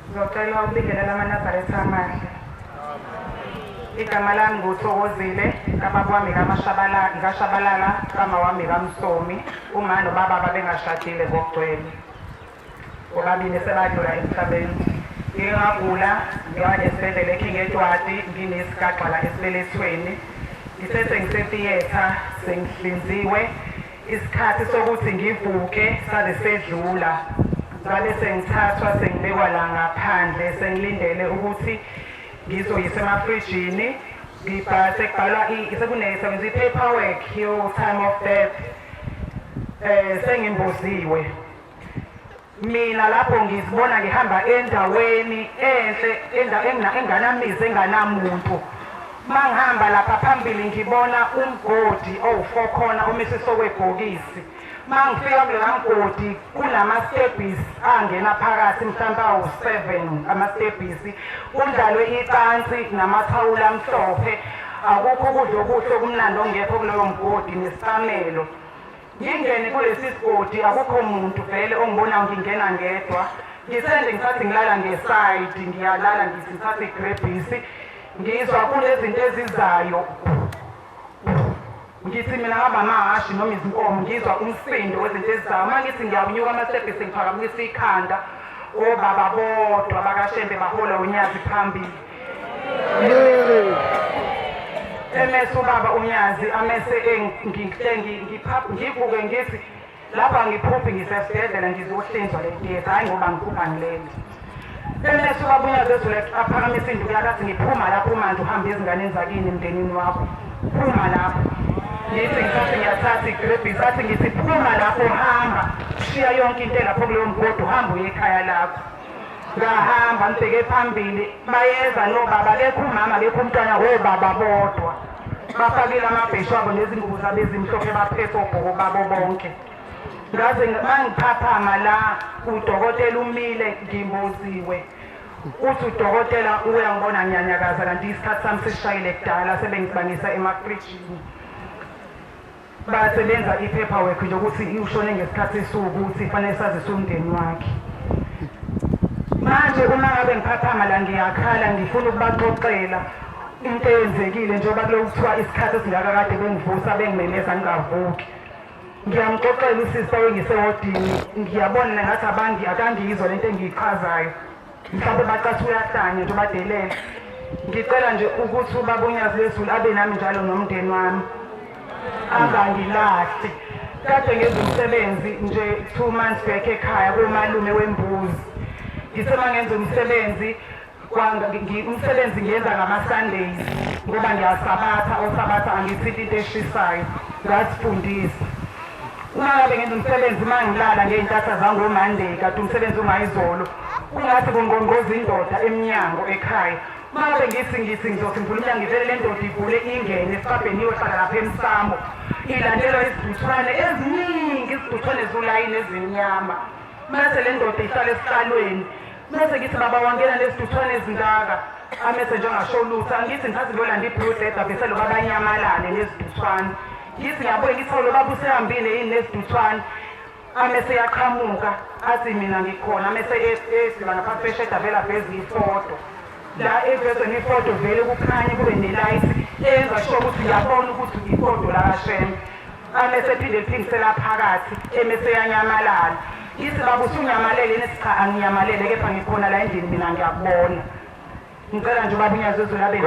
Ngizocela ukubingelela amaNazaretha amahle. Igama lami nguthokozile kababa wami kamashabala ngikashabalala kama wami kamsomi uma nobaba babengashadile ngokugcwele bobabili sebadlula emhlabeni ngike ngagula ngiya esibhedlela eking etwati nginesigagxala esibelethweni ngithe sengisethiyetha sengihlinziwe Isikhathi sokuthi ngivuke sabe sedlula ngabe sengithathwa sengibekwa la ngaphandle sengilindele ukuthi ngizoyise emafrijini ngibhase kubhalwa sekunesebenza i-paperwork yo-time of death um sengimboziwe mina lapho ngizibona ngihamba endaweni enhle enganamizi enganamuntu mangihamba lapha phambili ngibona umgodi owufokhona omisiso kwebhokisi mangifika kulela mgodi kunamastebhisi angena phakathi mhlawumbe awu-seven amastebhisi kundlalwe icansi namathawula amhlophe akukho ukudla okuhle okumnandi ongekho kuloyo mgodi nesisamelo ngingene kulesi sigodi akukho muntu vele ongibonayo ngingena ngedwa ngisende ngisathi ngilala ngesayidi ngiyalala ngithi ngithathe igrebhisi ngizwa kunezinto ezizayo ngithi mina ngaba amahhashi noma izinkomo ngizwa umsindo wezinto ezizayo uma ngithi ngiyawunyuka amasebhisi ngiphakamisa ikhanda obaba bodwa bakashembe bahola unyazi phambili emese ubaba unyazi amese ngivuke ngithi lapha ngiphuphi ngisesibhedlela ngizohlinzwa le theatre hhayi ngoba ngiphupha ngileli emese ubaba unyazi ezule aphakamise induku yakhe athi ngiphuma lapho manje uhambe ezinganeni zakini emndenini wakho phuma lapho ngithi ngithathe ngiyathatha igrebhisi athi ngithi phuma lapho hamba shiya yonke into elapho kuleyo mgodi uhamba uye ekhaya lakho ngahamba ngibheke phambili bayeza nobaba bekho umama bekho umntwana wobaba bodwa bafakile amabheshu abo nezingubo zabo ezimhlophe baphethe obhoko babo bonke ngaze mangiphaphama la udokotela umile ngimboziwe uthi udokotela uyangibona ngiyanyakaza kanti isikhathi sami sishayile kudala sebengibangisa emafrijini bayasebenza i-paperwork nje ukuthi ushone ngesikhathi esuku ukuthi fanele sazise umndeni wakhe manje uma ngabe ngiphaphama la ngiyakhala ngifuna ukubaxoxela into eyenzekile njengoba kulo kuthiwa isikhathi esingaka kade bengivusa bengimemeza ngingavuki ngiyamxoxela usisi owengise wodini ngiyabona ngathi abangi akangiyizwa lento engiyichazayo mhlawumbe bacathi uyahlanya nje ubadelela ngicela nje ukuthi ubaba unyazi lezulu abe nami njalo nomndeni wami angangilahli kade ngenza umsebenzi nje two months back ekhaya komalume wembuzi ngisema ngenza umsebenzi umsebenzi ngiyenza ngama-sundays ngoba ngiyasabatha osabatha angithinti into eshisayo ngasifundisa uma ngabe ngenza umsebenzi uma ngilala ngey'ntatha zangomonday kade umsebenzi ungayizolo kungathi kungqongqoza indoda emnyango ekhaya uma ngabe ngithi ngithi ngizothi ngivula umnyango ngivele le ndoda igule ingene esibhabheni iyohlala lapha emsamo ilandelwa iziduthwane eziningi iziduthwane zulayini ezimnyama mase le ndoda ihlala esihlalweni mese ngithi baba wangena nezithuthwane ezingaka amese nje angasho lutho angithi ngithathe lolanda i-blue dead avese lo baba anyamalale nezithuthwane ngithi ngiyabuye ngithi lo baba usehambile yini nezithuthwane amese yaqhamuka athi mina ngikhona amese esiba ngapha fesheda vela veza ifoto la evezwe ngefoto vele kukhanye kube nelight enza sho ukuthi uyabona ukuthi ifoto lakashembe amese ephinde eliphindisela phakathi emese yanyamalala ngithi baba usunyamalele nethi cha anginyamalele kepha ngikhona la endlini mina ngiyakubona ngicela nje ubaba unyazezulu abe